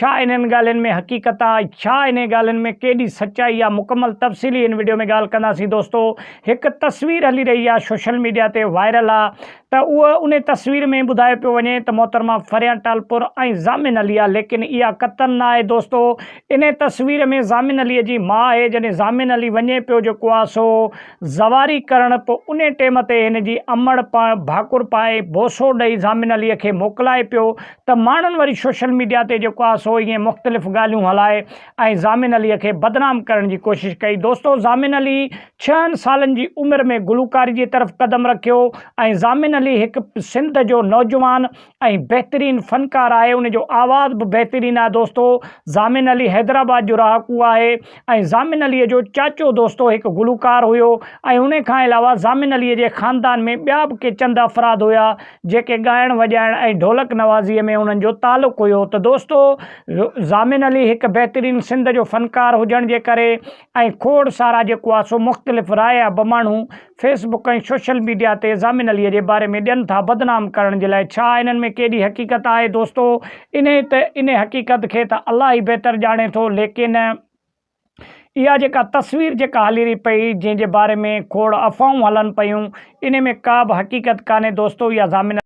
ڇا انهن ڳالهين ۾ حقيقت آ؟ ڇا انهي ڳالهين ۾ ڪيڏي سچائي آ؟ مڪمل تفصيلي هن وڊيو ۾ ڳالهه ڪنداسين دوستو هڪ تصوير هلي رهي آ سوشل ميڊيا تي وائرل آ ته اهو انهي تصوير ۾ ٻڌايو پيو وڃي ته محترمه فريان ٽالپر ۽ ضامن علي آ ليڪن اها قطعا نه آهي دوستو انهي تصوير ۾ ضامن علي جي ماء آهي جڏهن ضامن علي وڃي پيو جيڪو آ سو زواري ڪرڻ پو انهي ٽيم تي هن جي امڙ پڻ ڀاڪر پائي بوسو ڏئي ضامن علي کي موڪلائي پيو ته ماڻهن وري سوشل ميڊيا تي جيڪو آهي سو ائين مختلف ڳالهيون هلائي ۽ ضامن عليء کي بدنام ڪرڻ جي ڪوشش ڪئي. دوستو ضامن علي ڇهن سالن جي عمر ۾ گلوڪاري جي طرف قدم رکيو ۽ ضامن علي هڪ سنڌ جو نوجوان ۽ بهترين فنڪار آهي ان جو آواز به بهترين آهي دوستو ضامن علي حيدرآباد جو رهاڪو آهي ۽ ضامن عليء جو چاچو دوستو هڪ گلوڪار هيو ۽ انهي کان علاوه ضامن عليء جي خاندان ۾ ٻيا به ڪي چند افراد هيا جيڪي ڳائڻ وڄائڻ ۽ ڍولڪ نوازيء ۾ انهن جو تعلق هيو ته دوستو ضامن علي هڪ بهترين سند جو فنڪار هجڻ جي ڪري ۽ کوڙ سارا جيڪو آسو مختلف راء يا بماڻهو فيس بڪ ۽ سوشل ميڊيا تي ضامن علي جي باري ۾ ڏين ٿا بدنام ڪرڻ جي لاء ڇا انهن ۾ ڪيڏي حقيقت آهي دوستو انهي ته انهي حقيقت کي ته الله ئي بهتر ڄاڻي ٿو ليڪن اها جيڪا تصوير جيڪا هلي رهي پئي جنهن جي باري ۾ کوڙ افواهون هلن پيون انهي ۾ ڪا به حقيقت ڪانهي دوستو اها ضامن